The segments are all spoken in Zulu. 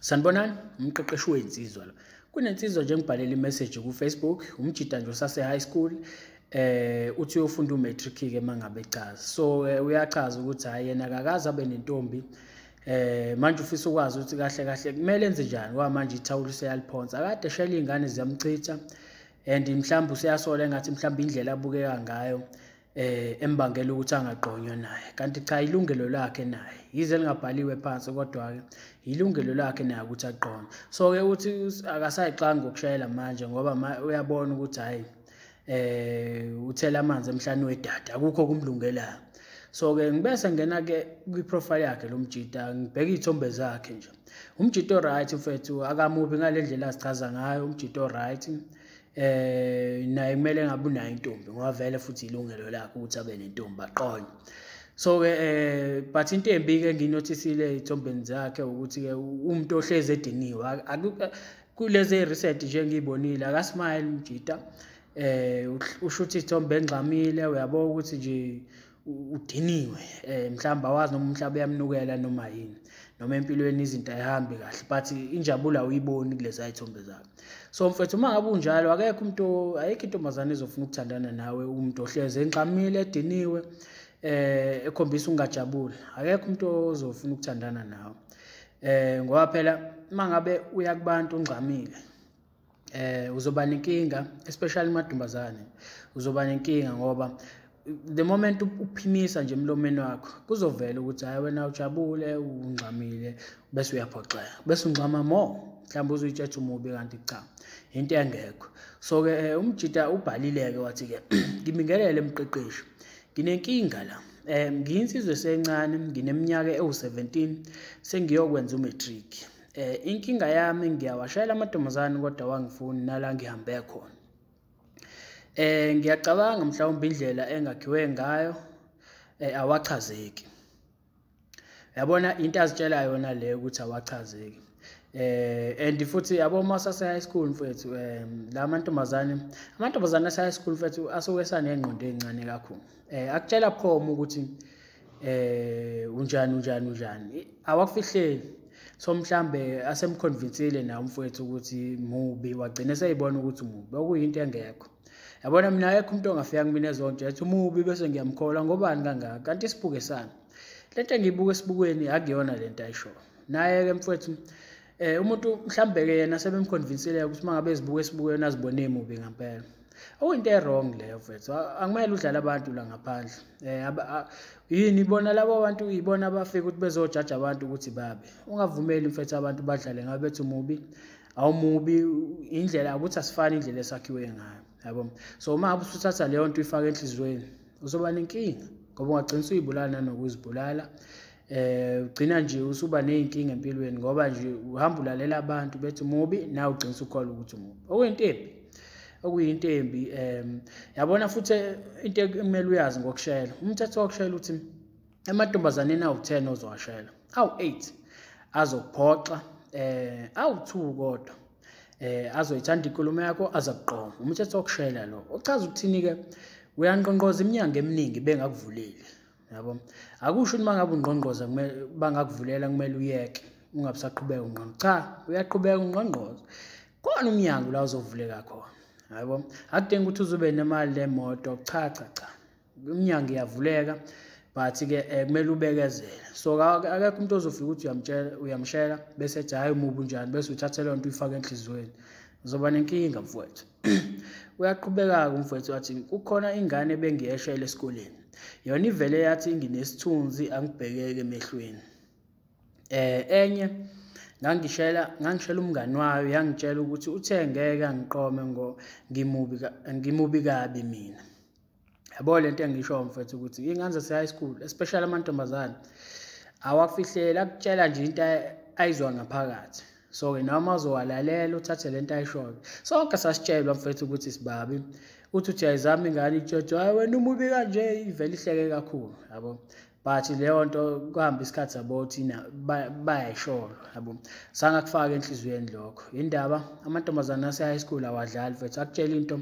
Sanibonani, umqeqeshi wensizwa lo. Kunensizwa nje ngibhalela imessage ku Facebook, umjita nje usase high school eh uthi uyofunda umatric ke mangabe echaza. So eh, uyachaza ukuthi hayi yena akakaze abe nentombi. Eh manje ufisa ukwazi ukuthi kahle kahle kumele enze njani wa manje ithawula useyaliphonsa. Akade shela izingane ziyamchitha and mhlawumbe useyasola engathi mhlawumbe indlela abukeka ngayo eh embangela ukuthi angagqonywa naye kanti cha ilungelo lakhe naye yize lingabhaliwe phansi kodwa ke ilungelo lakhe naye ukuthi agqonywe so ke uthi akasayixanga ukushayela manje ngoba uyabona ukuthi hayi eh uthela amanzi emhlane wedada akukho kumlungelayo so ke ngibese ngena ke kwi profile yakhe lo mjita ngibheka izithombe zakhe nje umjita o right mfethu akamubi ngalendlela azichaza ngayo umjita o right eh naye kumele ngabe unayo intombi ngoba vele futhi ilungelo lakhe ukuthi abe nentombi aqonye so ke eh but into embi ke nginothisile ezithombeni zakhe ukuthi ke umuntu ohlezi ediniwe kulezi research nje ngiyibonile akasmile mjita eh usho ukuthi ithombe engxamile uyabo ukuthi nje udiniwe eh mhlamba wazi noma umhlaba uyamnukela noma yini noma empilweni izinto ayihambi kahle but injabulo awuyiboni kulezi ayithombe zakhe so mfethu uma ngabe unjalo akekho umuntu ayikho intombazane ezofuna ukuthandana nawe umuntu ohleze enqamile ediniwe eh ekhombisa ukungajabuli akekho umuntu ozofuna ukuthandana nawe eh ngoba phela mangabe uya kubantu ungxamile eh uzoba nenkinga especially madumbazane uzoba nenkinga ngoba the moment uphimisa nje emlomeni wakho kuzovela ukuthi hayi wena ujabule ungxamile bese uyaphoxeka bese ungxama more mhlawumbe uzuyitshetha umubi kanti cha into engekho so-ke eh, umjita ubhalile-ke wathi-ke ngibingelele emqeqeshi nginenkinga la um ngiyinsizwe esencane ngineminyaka ewu-17 sengiyokwenza umatric eh inkinga yami ngiyawashayela amantombazane kodwa wangifuni nala ngihambe khona eh ngiyacabanga mhlawumbe indlela engakhiwe ngayo eh awachazeki yabona into azitshela yona le ukuthi awachazeki eh and futhi yabo masa se high school mfethu eh la mantombazane amantombazane ase high school mfethu asuke sanengqondo ezincane kakhulu eh akutshela phoma ukuthi eh unjani unjani unjani awakufihleli so mhlambe asemconvincile na umfowethu ukuthi mubi wagcina seyibona ukuthi mubi okuyinto engekho yabona mina ayekho umuntu ongafika kumina ezonto yathi umubi bese ngiyamkhola ngobani kangaka kanti isibuke sami lento engiyibuka esibukweni akuyona lento ayisho naye ke mfowethu eh umuntu mhlambe ke yena sebemconvincele ukuthi mangabe ezibuka esibuke yona azibone emubi ngempela okuyinto ewrong leyo mfethu akumele udlale abantu la ngaphandle eh yini ibona labo bantu ibona abafika ukuthi bezojaja abantu ukuthi babe ungavumeli mfethu abantu badlale ngabe bethi umubi awumubi indlela ukuthi asifani indlela esakhiwe ngayo yabo so uma abusuthatha leyo nto uyifaka enhliziyweni uzoba nenkinga ngoba ungagcina usuyibulala nanokuzibulala eh ugcina nje usuba nezinkinga empilweni ngoba nje uhamba ulalela abantu bethi mubi nawe ugcina usukholwa ukuthi mubi okuyinto embi okuyinto embi em yabona futhi into ekumele uyazi ngokushayela umthetho wokushayela uthi emantombazaneni awu-10 ozowashayela awu-8 azokuphoxa eh awu-2 kodwa eh azoyithanda inkulumo yakho azakuqoma umthetho wokushayela lo uchaza ukuthini-ke uyanqonqoza iminyango eminingi bengakuvuleli yabo akusho ukuthi mangabe ungqongqoza kumele bangakuvulela kumele uyeke ungabusaqhubeka ungqongqo cha uyaqhubeka ungqongqoza khona umnyango la uzovuleka khona yabo akudingi ukuthi uzube nemali lemoto cha cha cha umnyango iyavuleka but ke eh, kumele ubekezele so akekho umuntu ozofika ukuthi uyamtshela uyamshela bese ethi hayi umubi unjani bese uthathe leyo nto uyifake enhliziyweni uzoba nenkinga mfowethu Uyaqhubeka-ke umfowethu wathi kukhona ingane ebengiyeshela esikoleni. Yona ivele yathi nginesithunzi angibhekeke emehlweni. Eh enye ngangishela ngangishela umngani wayo yangitshela ukuthi uthe ngeke angiqome ngo ngimubi ngimubi kabi mina. yabo le nto engishoyo mfethu ukuthi iy'ngane zase-high school especially amantombazane awafihleli akutshela nje into ayizwa ngaphakathi so-ke noma uzowalalela uthathe le nto ayishoyo sonke sasitshelwa mfethu ukuthi sibabi uthi uthi ayizami ingane itshotsho hayi wena umubi kanje ivele ihleke kakhulu yabo but leyo nto kuhamba isikhathi sabo thina bayayisholo yabo sange akufake enhliziyweni lokho indaba amantombazane ase high school awadlali mfethu akutshela into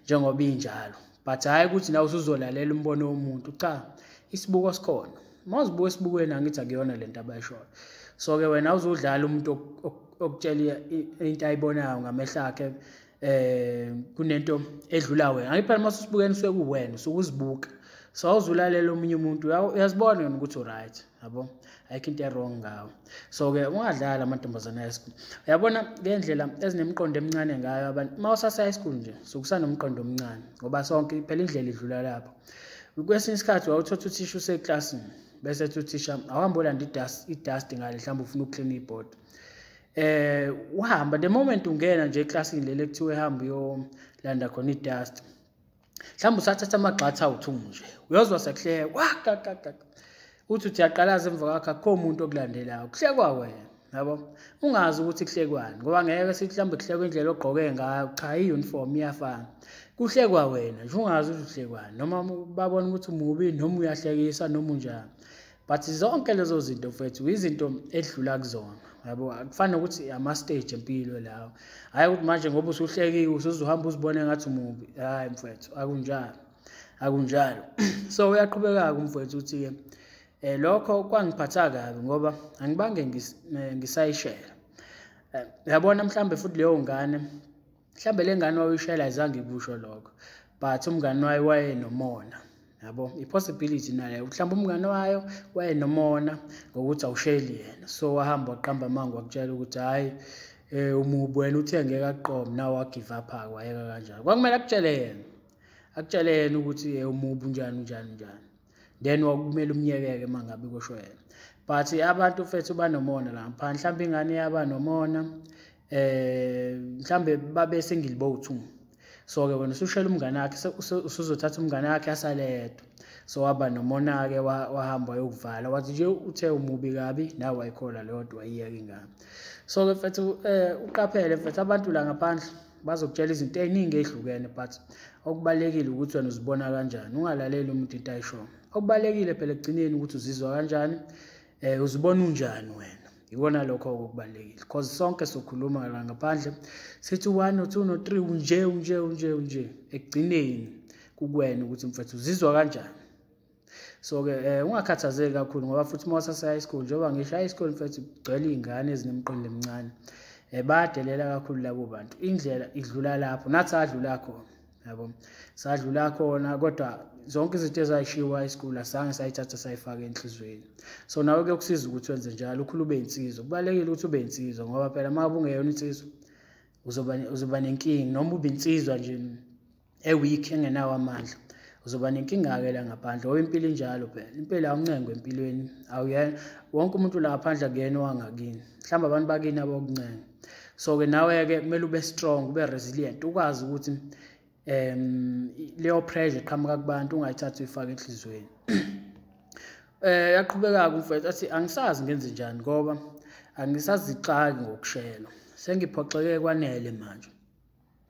njengoba injalo but hhayi ukuthi nawe usuzolalela umbono womuntu cha isibuko sikhona uma uzibuka esibukweni angithi akuyona le nto abayishoyo so-ke wena uzudlala umuntu okutshela into ayibonayo ngamehlo akhe eh kunento edlula wena angiphela mase usibukeni suke kuwena sukuzibuka so awuzulalela omunye umuntu uyazibona yona ukuthi uright yabo ayikho into erong ngawo so-ke ungadlali amantombazane high school uyabona ngendlela ezinemiqondo emincane ngayo abantu uma usase-high school nje sokusanomqondo omncane ngoba sonke phela indlela idlula lapho kwesinye isikhathi wawuthotha uthisha useklasini bese ethi uthisha awuhambe olanda idasti ngale mhlawumbe ufuna ukuklina ibhodi eh uhamba the moment ungena nje eclassini leli ekuthiwa ehamba uyolanda khona idust mhlawumbe usathatha amagxatha awuthu nje uyozwa sekuhleka wakakaka uthi uthi yaqalaza emva kwakho akukho umuntu okulandelayo kuhlekwa wena yabo ungazi ukuthi kuhlekwani ngoba ngeke sithi mhlawumbe kuhlekwa indlela ogqoke ngayo cha i-uniform iyafana kuhlekwa wena nje ungazi ukuthi uhlekwani noma babona ukuthi umubi noma uyahlekisa noma unjani but zonke lezo zinto mfethu izinto edlula kuzona yabo akufani nokuthi ama-stage empilo lawo hhayi ukuthi manje ngoba usuhlekiwe usuzohamba uzibone ngathi umubi hhayi mfethu akunjalo akunjalo so uyaqhubeka-ke umfwethu ukuthi-ke um lokho kwangiphatha kabi ngoba angibange eh, ngisayishela eh, yabona mhlawumbe futhi leyo ngane mhlawumbe le ngane wawuyishayela ayizange ikusho lokho but umngane wayo wayenomona yabo i-possibility nayo mhlawumbe umngane wayo wayenomona ngokuthi awusheli yena so wahamba waqamba amango wakutshela ukuthi hhayi eh umubi wena uthe ngeke aqome nawe wagive up-ke wayeka kanjani kwakumele akutshele yena akutshele yena ukuthi eh, umubi unjani unjani unjani then wakumele umyekeke uma ngabe kusho yena but abantu fethu banomona la ngaphandle mhlawumbe ingane yaba nomona eh mhlambe babe single boat so ke wena usushela umngane wakhe usuzothatha umngane wakhe asaledwa so waba nomona ke wahamba yokuvala wathi nje uthe umubi kabi nawe wayikhola leyodwa iyeke ingane so ke mfethu eh uqaphele mfethu abantu la ngaphandle bazokutshela izinto ey'ningi ey'hlukene but okubalulekile ukuthi wena uzibona kanjani ungalaleli umuntu into ayishoyo okubalulekile phela ekugcineni ukuthi uzizwa kanjani um uzibona unjani wena yikona lokho okubalulekile because sonke sokhuluma la ngaphandle sithi one no two no three unje unje unje unje ekugcineni kukwena ukuthi mfethu uzizwa kanjani so ke eh ungakhathazeki kakhulu ngoba futhi uma usase high school njengoba ngisho high school mfethu kugcwele izingane ezinemqondo emincane eh bayadelela kakhulu labo bantu indlela idlula lapho nathi adlula khona yabo sadlula khona kodwa zonke izinto ezayishiwa high school asange sayithatha sayifaka enhlizweni so nawe ke kusiza ukuthi wenze njalo ukhulu ube insizwa kubalekile ukuthi ube insizwa ngoba phela uma ubungeyona insizwa uzoba uzoba nenkingi noma ube insizwa nje e-weak engenawo amandla uzoba nenkinga-ke la ngaphandle ngoba impilo injalo phela impela awuncengo empilweni awuyena wonke umuntu la ngaphandle akuyena owangakini mhlawumbe abantu bakini abokuncenga so-ke nawe-ke kumele ube strong ube resilient ukwazi ukuthi um leyo pressure eqhamuka kubantu ungayithathi uyifake enhliziyweni eh yaqhubeka-ke umfethu athi angisazi ngenze njani ngoba angisazixaki ngokushela sengiphoxeke kwanele manje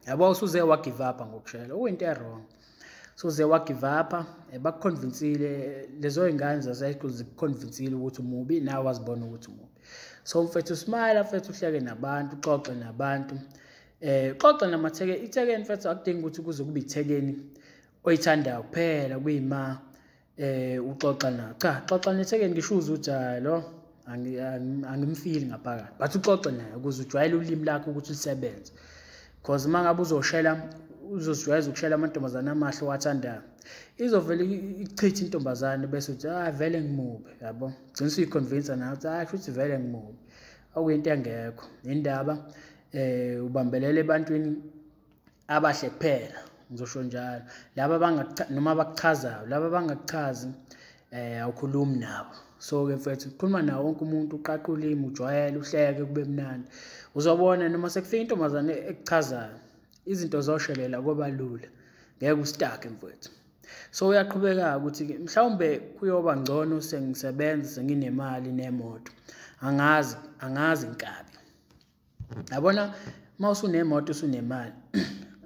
yabo usuze wagive up ngokushela okuyinto ewrong suze wagive up eh, bakuconvinsile lezo ingane zase school zikuconvinsile ukuthi umubi nawe wazibona ukuthi umubi so mfethu smile mfethu uhleke nabantu uxoxe nabantu eh xoxa namatheke ithekeni mfethu akudingi ukuthi kuze kube ithekeni oyithandayo kuphela kuyima eh uxoxa na cha xoxa nethekeni ngisho uze uthi hayi lo angimfili ngaphakathi but uxoxe naye ukuze ujwayele ulimi lakho ukuthi lisebenze because uma ngabe uzoshela uzozijwayeza ukushela amantombazane amahle owathandayo izovele ichithe intombazane bese uthi ah vele ngimubi yabo gcina usuyiconvince nayo ukuthi ah shuthi vele ngimubi okuyinto engekho indaba eh ubambelele ebantwini abahle kuphela ngizosho njalo laba noma bakuchazayo laba bangakuchazi um eh, awukhulumi nabo so-ke mfethu ukhuluma nawo wonke umuntu uqaqa ulimi ujwayele uhleke kube mnandi uzobona noma sekufika intombazane ekuchazayo izinto zoshelela koba lula ngeke usitake mfethu so uyaqhubeka ukuthi mhlawumbe kuyoba ngcono sengisebenza senginemali nemoto angazi angazi nkabi yabona uma usunemoto usunemali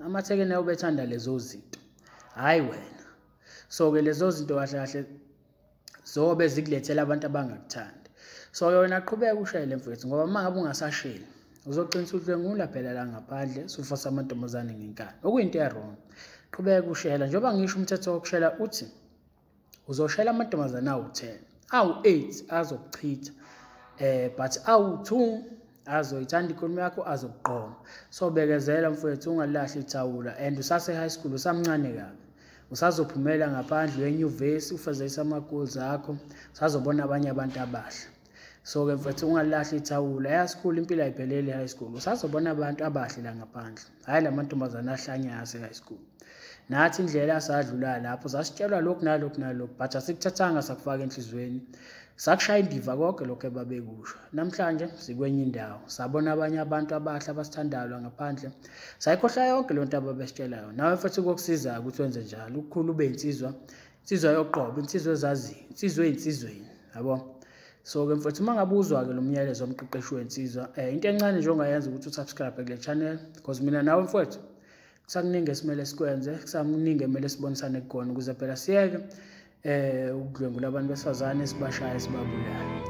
amathekeni ayo bethanda lezo zinto hhayi wena so-ke lezo zinto kahle kahle zobe zikulethela abantu abangakuthandi so yona qhubeka ushayele mfethu ngoba uma ngabe ungasasheli uzogcina uhlwengula phela la ngaphandle sufosa amantombazane ngenkani okuyinto erong qhubeka ushela njengoba ngisho umthetho wokushela uthi uzoshela amantombazane awu-10 awu-8 azokuchitha eh but awu-2 azoyithanda ikhulumi yakho azokuqoma so bekezela mfowethu ungalahli ithawula and usase-high school usamncane kabi usazophumela ngaphandle wenyuvesi ufezekise ama-goals akho usazobona abanye abantu abahle so-ke mfethu ungalilahli ithawula yasikhula impilo ayiphelele high school usazobona abantu abahle la ngaphandle hhayi la mantombazane ahlanye ase-high school nathi indlela asadlula lapho sasitshelwa lokhu nalokhu nalokhu but asikuthathanga sakufaka enhliziyweni sakushaya indiva konke lokhu ebabekusho namhlanje sikwenye indawo sabona abanye abantu abahle abasithandayo ngaphandle sayikhohla yonke le nto ababesitshela yona nawe futhi kokusizayo ukuthi wenze njalo ukukhulu ube insizwa insizwa yoqobo insizwa ezaziyo insizwa eyinsizweni yabo so-ke mfowethu uma ngabe uzwa-ke lo myalezo womqeqeshi wensizwa um eh, into encane nje ongayenza ukuthi usubscribe kule channel because mina nawe mfowethu kusakuningi esimele sikwenze kusakuningi emele sibonisane kugona ukuze phela siyeke um ukudlwengula abantu besifazane sibashaye sibabulale